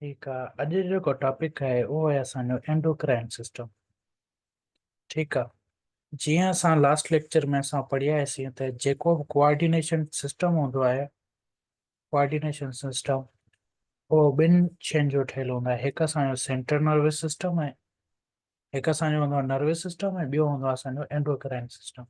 ٺيڪ آ اڄ جيڪو ٽاپڪ آهي اهو آهي اسان جو اينڊوڪرائن سسٽم ٺيڪ آ جيئن اسان لاسٽ ليڪچر ۾ اسان پڙهياسين ته جيڪو به ڪوآرڊينيشن سسٽم هوندو آهي ڪوآرڊينيشن سسٽم اهو ٻن شين جو ٺهيل هوندو آهي هڪ اسان جو سينٽر نروس سسٽم آهي هڪ اسان جو هوندو آهي نروس سسٽم ۽ ٻيو هوندو آهي اسان جو اينڊوڪرائن سسٽم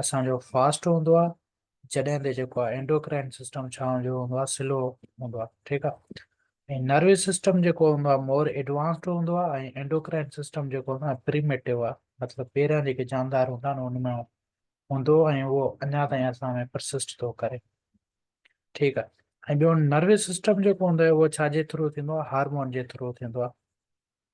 اسان جو فاسٽ هوندو آهي جڏهن تي جيڪو آهي انڊوڪرائن سسٽم ڇا هوندو هوندو آهي سلو هوندو آهي ٺيڪ آهي ۽ نروس سسٽم جيڪو هوندو آهي مور ايڊوانسڊ هوندو آهي ۽ انڊوڪرائن سسٽم جيڪو هوندو آهي پريميٽو آهي مطلب پهريان جيڪي جاندار هوندا آهن ان ۾ هوندو ۽ اهو اڃا تائين اسان ۾ پرسسٽ ٿو ڪري ٺيڪ آهي ۽ ٻيو نروس سسٽم جيڪو هوندو آهي اهو ڇا جي ٿرو ٿيندو آهي هارمون جي ٿرو ٿيندو آهي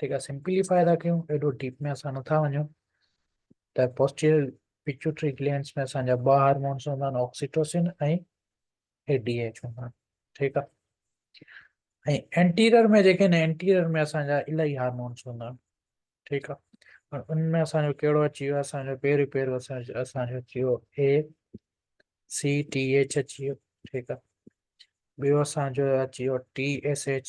ٺيڪ آهي سمپليفاء ٿا ڪيون ايڏو ڊيپ ۾ اسان نٿا وڃون ته پوسٽيريل پيچوٽري گلينس ۾ اسان جا ٻه هارمونس هوندا آهن آڪسيٽوسن ۽ اي ڊي ايچ هوندا آهن ٺيڪ آهي ۽ اينٽيرير ۾ جيڪي آهن اينٽيرير ۾ اسان جا الاهي هارمونس هوندا آهن ٺيڪ آهي هاڻ ان ۾ اسان جو کيڙو اچي ويو اسان جو پير پير اسان جو اسان جو اچي ويو اي سي ٽي ايچ اچي ويو ٺيڪ آهي ٻيو اسان جو اچي ويو ٽي ايس ايچ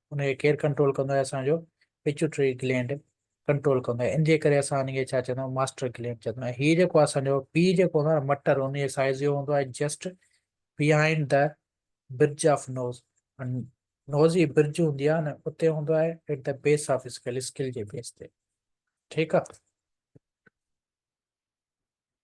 ان کي ڪير ڪنٽرول ڪندو آهي اسان جو پيچوٽري گلينڊ ڪنٽرول ڪندو آهي ان جي ڪري اسان ان کي ڇا چوندا آهيون ماسٽر گلينڊ چوندا آهيون هي جيڪو اسان جو پي جيڪو هوندو آهي مٽر ان جي سائز جو هوندو آهي just behind the bridge of nose nose جي برج هوندي آهي نه اتي هوندو آهي at the base of skull skull جي بيس تي ٺيڪ آهي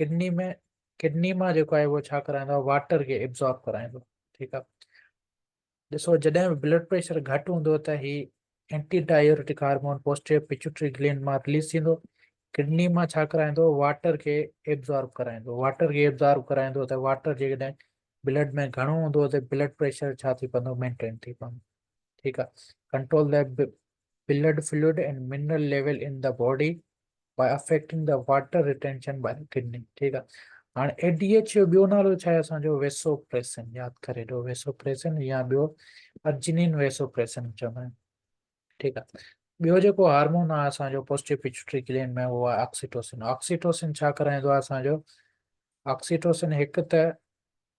ڪڊني ۾ ڪڊني مان جيڪو آهي اهو ڇا ڪرائيندو آهي واٽر کي ابزارب ڪرائيندو ٺيڪ آهي ڏسو جڏهن به بلڊ پريشر گهٽ هوندو ته هي anti diuretic hormone posterior pituitary gland مان رليز ٿيندو ڪڊني مان ڇا ڪرائيندو واٽر کي ابزارب ڪرائيندو واٽر کي ابزارب ڪرائيندو ته واٽر جيڪڏهن بلڊ ۾ گهڻو هوندو ته بلڊ پريشر ڇا ٿي پوندو مينٽين ٿي پوندو ٺيڪ آهي ڪنٽرول لاء blood fluid and mineral level in the body by affecting the water retention by the kidney ٺيڪ آ هاڻي اي ڊي ايڇ جو ٻيو نالو ڇا آهي اسان جو ويسو پريسن ياد ڪري ڏو ويسو پريسن يا ٻيو ارجنين ويسو پريسن چوندا آهن ٺيڪ آ ٻيو جيڪو هارمون آهي اسان جو پوسٽيو پيچوٽري گلينڊ ۾ اهو آهي آڪسيٽوسن آڪسيٽوسن ڇا ڪرائيندو آهي اسان جو آڪسيٽوسن هڪ ته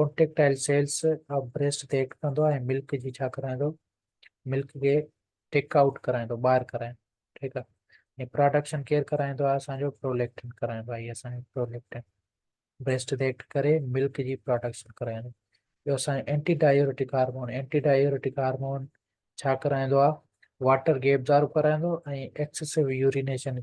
ڪونٽريڪٽائل سيلز آف بريسٽ تي ايڪٽ ڪندو ۽ ملڪ جي ڇا ڪرائيندو ملڪ کي ٽيڪ آئوٽ ڪرائيندو ٻاهر ڪرائيندو ٺيڪ آهي ۽ پراڊڪشن ڪير ڪرائيندو آهي اسان جو پروليڪٽن ڪرائيندو آهي اسان جو پروليڪٽن بريسٽ تي ايڪٽ ڪري ملڪ جي پراڊڪشن ڪرائيندو ٻيو اسان جو anti diuretic hormone anti diuretic hormone ڇا ڪرائيندو آهي واٽر گيپ ظاهر ڪرائيندو ۽ excessive urination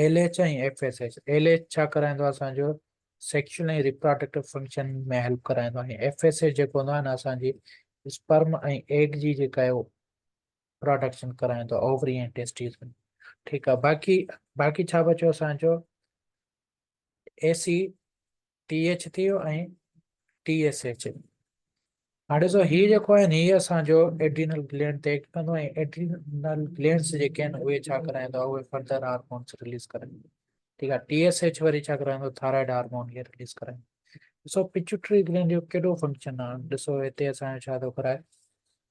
L H ۽ F S H, L H ڇا ڪرائيندو آهي اسان جو سيڪشل ۽ ريپراڊڪٽو فنڪشن ۾ هيلپ ڪرائيندو آهي ۽ ايف ايس ايڇ جيڪو هوندو آهي نه اسان جي اسپرم ۽ ايگ جي جيڪا آهي پروڊڪشن ڪرائيندو اووري ۽ ٽيسٽيز ۾ ٺيڪ آهي باقي باقي ڇا بچيو اسان جو اي سي ٽي ايڇ ٿي ويو ۽ ٽي ايس ايڇ هاڻي ڏسو هي جيڪو آهن هي اسان جو ايڊرينل گلينڊ تي ايڪٽ ڪندو ۽ ايڊرينل گلينڊز جيڪي آهن اهي ڇا ڪرائيندو اهي فردر هارمونز ريليز ڪرائيندو ٺيڪ آهي ٽي ايس ايڇ وري ڇا ڪرائيندو ٿائرائڊ هارمون کي ريليز ڪرائيندو ڏسو پچوٽري گلينڊ جو ڪهڙو فنڪشن آهي ڏسو هتي اسان جو ڇا ٿو ڪرائي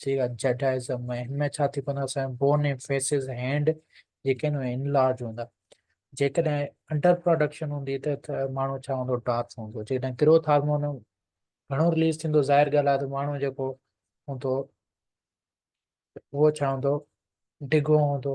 جي اڄ جڊائزم ۾ هن ۾ ڇا ٿي پوندو اسان جا بون ۽ فيسز هينڊ جيڪي آهن اهي انلارج هوندا جيڪڏهن انڊر پروڊڪشن هوندي ته ته ماڻهو ڇا هوندو ڊارف هوندو جيڪڏهن گروٿ هارمون گهڻو رليز ٿيندو ظاهر ڳالهه آهي ته ماڻهو جيڪو هوندو اهو ڇا هوندو ڊگهو هوندو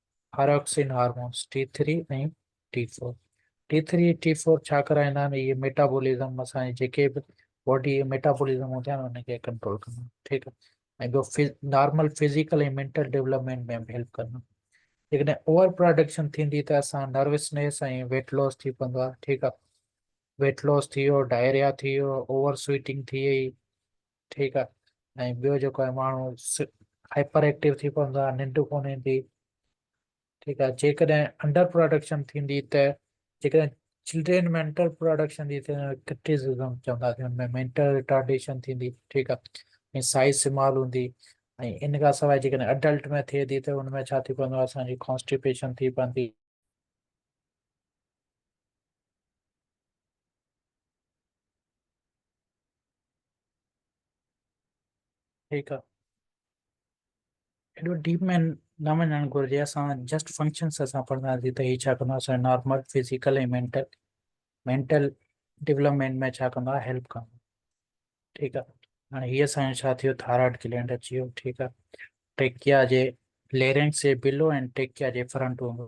thyroxine hormones T three ۽ T four T three ۽ T four ڇا ڪرائيندا آهن اهي ميٽابولزم اسان جي جيڪي به باڊي جي ميٽابولزم هوندا آهن ان کي ڪنٽرول ڪندا آهن ٺيڪ آهي ۽ ٻيو نارمل فزيڪل ۽ مينٽل ڊيولپمينٽ ۾ به هيلپ ڪندا جيڪڏهن اوور پروڊڪشن ٿيندي ته اسان نروسنيس ۽ ويٽ لاس ٿي پوندو آهي ٺيڪ آهي ويٽ لاس ٿي ويو ڊائريا ٿي ويو اوور سويٽنگ ٿي وئي ٺيڪ آ ۽ ٻيو جيڪو آهي ماڻهو هائپر ايڪٽو ٿي پوندو آهي ننڊ ڪونه ايندي ٺيڪ آهي جيڪڏهن انڊر پروڊڪشن ٿيندي ته جيڪڏهن چلڊرين مينٽل پروڊڪشن جي ڪرٽيسزم چونداسين ان ۾ مينٽل رٽارڊيشن ٿيندي ٺيڪ آهي ۽ سائز سمال هوندي ۽ ان کان سواء جيڪڏهن اڊلٽ ۾ ٿئي ٿي ته ان ۾ ڇا ٿي پوندو آهي اسانجي ڪانسٽيپيشن ٿي پوندي ٺيڪ آ ايڏو ڊيپ ۾ نه وڃڻ گهرجي اسان جسٽ فنڪشنس اسان پڙهنداسين ته هي ڇا ڪندا اسان normal physical ۽ mental mental development ۾ ڇا ڪندا هيلپ ڪندا ٺيڪ آ هاڻي هي اسان جو ڇا ٿيو ٿائرائڊ گلينڊ اچي ويو ٺيڪ آ ٽيڪيا جي ليرنگس جي بلو ۽ ٽيڪيا جي فرنٽ هوندو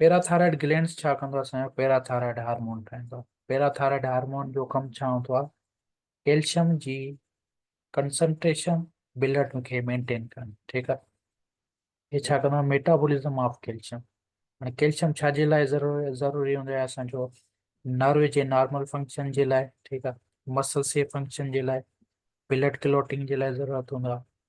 پيراٿائرائڊ گلينڊز ڇا ڪندو آهي اسان جو پيراٿائرائڊ هارمون ٺاهيندو آهي پيراٿائرائڊ هارمون جو ڪم ڇا هوندو آهي ڪيلشم جي ڪنسنٽريشن بلڊ کي مينٽين ڪرڻ ٺيڪ آهي هي ڇا ڪندو آهي ميٽابولزم آف ڪيلشم هاڻي ڪيلشم ڇا جي لاء ضروري ضروري هوندو آهي اسان جو نروي جي نارمل فنڪشن جي لاء ٺيڪ آهي مسل سي فنڪشن جي لاء بلڊ ڪلوٽنگ جي لاء ضرورت هوندو آهي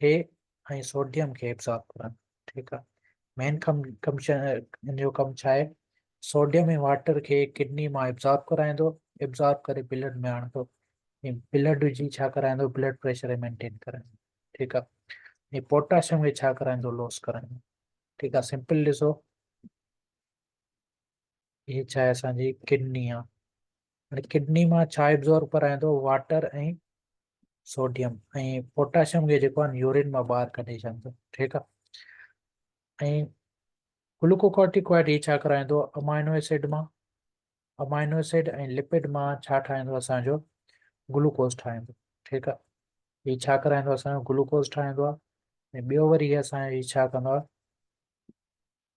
کي ۽ سوڊيم کي ابزارب ڪرن ٺيڪ آ مين ڪم ڪم شا ان جو ڪم ڇا آهي سوڊيم ۽ واٽر کي ڪڊني مان ابزارب ڪرائيندو ابزارب ڪري بلڊ ۾ آڻندو ۽ بلڊ جي ڇا ڪرائيندو بلڊ پريشر مينٽين ڪرائيندو ٺيڪ آ ۽ پوٽاشيم کي ڇا ڪرائيندو لوس ڪرائيندو ٺيڪ آ سمپل ڏسو هي ڇا آهي اسان جي ڪڊني آ هاڻي ڪڊني مان ڇا ابزورب ڪرائين ٿو واٽر ۽ سوڊيم ۽ پوٽاشيم کي جيڪو آهن يورين مان ٻاهر ڪڍي ڇڏين ٿو ٺيڪ آهي ۽ گلوڪوڪارٽيڪوائڊ هي ڇا ڪرائين ٿو امائنو اسيڊ مان امائنو اسيڊ ۽ لپڊ مان ڇا ٺاهيندو اسانجو گلوڪوز ٺاهيندو ٺيڪ آهي هي ڇا ڪرائيندو اسانجو گلوڪوز ٺاهيندو آهي ۽ ٻيو وري اسان هي ڇا ڪندو آهي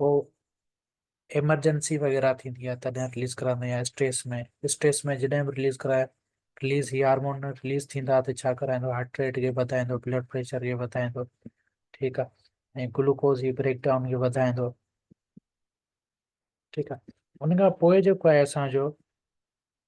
پوء ايمرجنسي وغيره ٿيندي آهي تڏهن رليز ڪرائيندا آهيون يا اسٽريس ۾ اسٽريس ۾ جڏهن به رليز ڪرائي رليز هي هارمون رليز ٿيندا ته ڇا ڪرائيندو هارٽ ريٽ کي وڌائيندو بلڊ پريشر کي وڌائيندو ٺيڪ آهي ۽ گلوڪوز جي بريڪ ڊائون کي وڌائيندو ٺيڪ آهي ان کان پوء جيڪو آهي اسانجو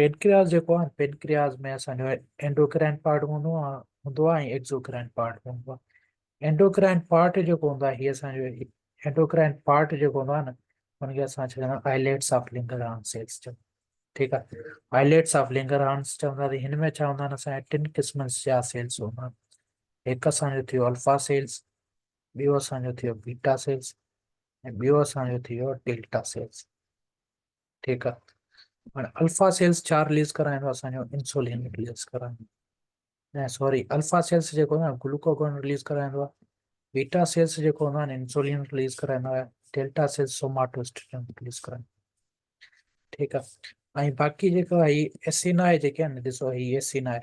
پينڪرياس جيڪو آهي پينڪرياس ۾ اسان جو اينڊوڪرائن پارٽ هوندو آهي هوندو آهي ۽ ايڪزوڪرائن پارٽ هوندو آهي اينڊوڪرائن پارٽ جيڪو هوندو آهي هي اسان جو اينڊوڪرائن پارٽ جيڪو هوندو آهي نه ان کي اسان چوندا آهيون آئليٽس آف لنگر هارن سيلز چوندا ٺيڪ آهي آئليٽس آف لنگر هارنس چوندا ته هن ۾ ڇا هوندا آهن اسان جا ٽن قسمن جا سيلز هوندا آهن هڪ اسان جو ٿيو الفا سيلز ٻيو اسان جو ٿيو بيٽا سيلز ۽ ٻيو اسان جو ٿيو ڊيلٽا سيلز ٺيڪ آ هاڻي الفا سيلز ڇا رليز ڪرائيندو اسان جو انسولين رليز ڪرائيندو نه سوري الفا سيلز جيڪو نه گلوڪوگون رليز ڪرائيندو آ بيٽا سيلز جيڪو هوندو آ انسولين رليز ڪرائيندو آ ڊيلٽا سيلز سوماٽوسٽرين رليز ڪرائيندو ٺيڪ آ ۽ باقي جيڪو هي ايسين آهي جيڪي آهن ڏسو هي ايسين آهي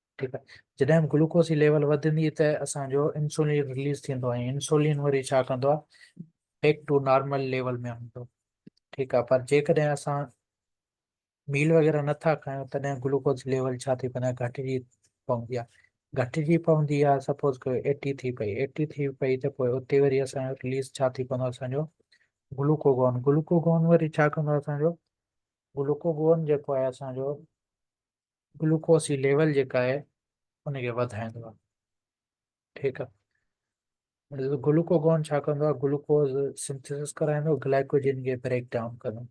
ٺيڪ آهي جڏهن به گلوڪوز جي ليول وڌندي ته اسان جو انسولين رليز ٿيندو ۽ انسولين وري ڇا ڪندو آهي بيڪ ٽو نارمل ليول ۾ آڻيندو ٺيڪ آهي پر جيڪڏهن اسان ميل وغيره نه ٿا کايون تڏهن گلوڪوز ليول ڇا ٿي پوندي گهٽجي پوندي آهي گهٽجي پوندي آهي سپوز ڪيو ايٽي ٿي پئي ايٽي ٿي پئي ته پوء اتي وري اسان جو رليز ڇا ٿي پوندو اسان جو گلوڪوگون گلوڪوگون وري ڇا ڪندو اسان جو گلوڪوگون جيڪو آهي اسان جو گلوڪوز جي ليول جيڪا آهي ان کي وڌائيندو آهي ٺيڪ آهي گلوڪوگون ڇا ڪندو آهي گلوڪوز سنٿيسس ڪرائيندو گلائڪوجن کي بريڪ ڊائون ڪندو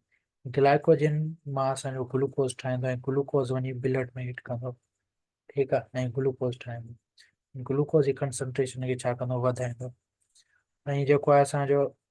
گلائڪوجن مان اسانجو گلوڪوز ٺاهيندو ۽ گلوڪوز وڃي بلڊ ۾ هٽ ڪندو ٺيڪ آهي ۽ گلوڪوز ٺاهيندو گلوڪوز جي ڪنسنٽريشن کي ڇا ڪندو وڌائيندو ۽ جيڪو آهي اسانجو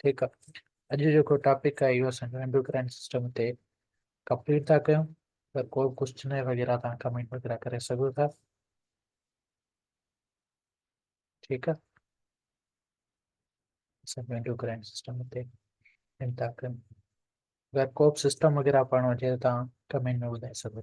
ٺيڪ آ اڄ جيڪو ٽاپڪ آ اهو اسان جو انڊوڪرائن سسٽم تي ڪمپليٽ ٿا ڪيون ته ڪو به ڪوشچن وغيره تان ڪمينٽ وغيره ڪري سگهو ٿا ٺيڪ آ اسان جو انڊوڪرائن سسٽم تي ڪم ٿا ڪيون اگر ڪو به سسٽم وغيره پڙهڻو هجي ته تان ڪمينٽ ۾ ٻڌائي سگهو